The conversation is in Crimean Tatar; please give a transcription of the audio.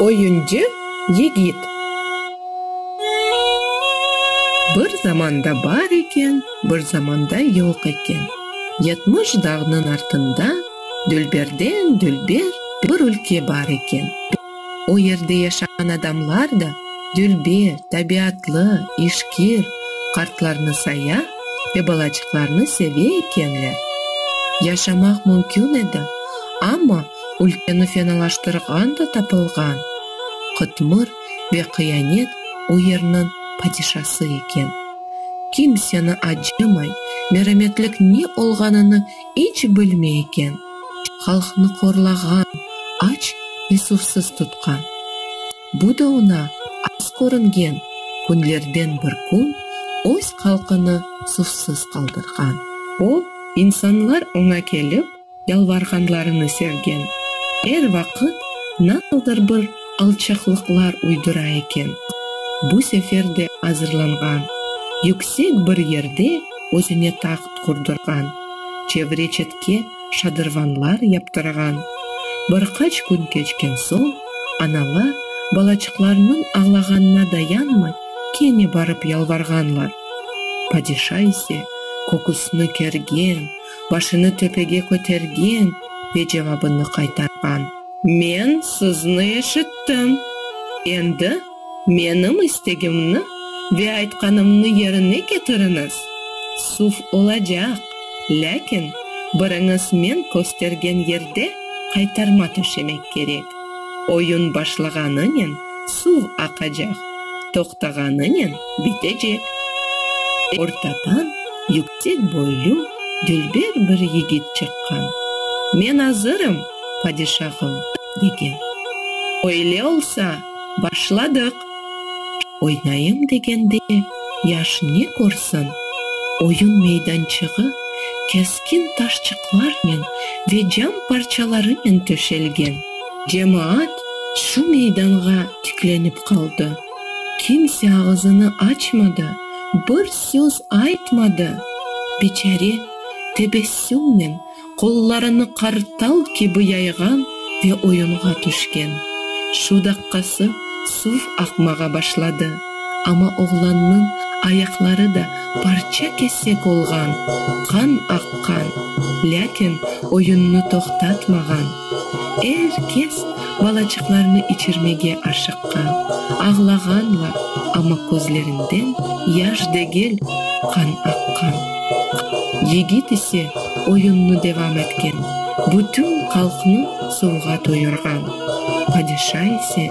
Oyuncu yigit. Bir zamanda bar eken, bir zamanda yoq eken. Yetmiş dağnıñ artında dülberden dülber bir ülke bar eken. O yerde yaşağan adamlar da dülber, tabiatlı, işkir, qartlarnı saya ve balacıqlarnı seve ekenler. Yaşamaq mümkün edi, amma ülkeni fenalaştırğan da tapılğan. Qıtmır ve qıyanet o yernıñ padişası eken. Kimseni acımay, merametlik ne olğanını iç bilmey eken, halqnı qorlağan, aç ve suvsız tutqan. Bu da oña az körüngen, künlerden bir kün öz halqını suvsız qaldırğan. O, insanlar oña kelip, yalvarğanlarını sevgen, er vaqıt nasıldır bir alçaqlıqlar uydıra eken. Bu sefer de azırlanğan, yüksek bir yerde özüne taht qurdurğan, çevre-çetke şadırvanlar yaptırğan. Bir qaç kün keçken soñ, analar, balaçıqlarnıñ ağlağanına dayanmay, kene barıp yalvarğanlar. Padişa ise köküsini kergen, başını töpege kötergen ve cevabını qaytarğan. Men sizni eşittim, endi menim istegimni ve aytqanımnı yerine ketiriniz, suv olacaq, lâkin biriñiz men köstergen yerde qaytarma töşemek kerek. Oyun başlağanınen suv aqacaq, toqtağanınen bitecek. Ortadan yükseltme. Tek boylü, dülber bir yigit çıqqan. Men azırım, padişahım, degen. Öyle olsa, başladıq! Oynayım degende, yaş ne körsün, oyun meydançığı keskin taşçıqlarnen ve cam parçalarınen töşelgen. Cemaat şu meydanğa tiklenip qaldı. Kimse ağızını açmadı, bir söz aytmadı. Biçare, tebessümnen, qollarını qartal kibi yayğan ve oyunğa tüşken. Şu daqqası suv aqmağa başladı, amma oğlannıñ ayaqları da parça-kesek olğan, qan aqqan, lâkin oyunnı toqtatmağan. Er kes balaçıqlarını içirmege aşıqqan, ağlağanlar, amma közlerinden yaş degil, qan aqqan. Yigit ise oyunnı devam etken, bütün qalqnı suvğa toyurğan. Padişa ise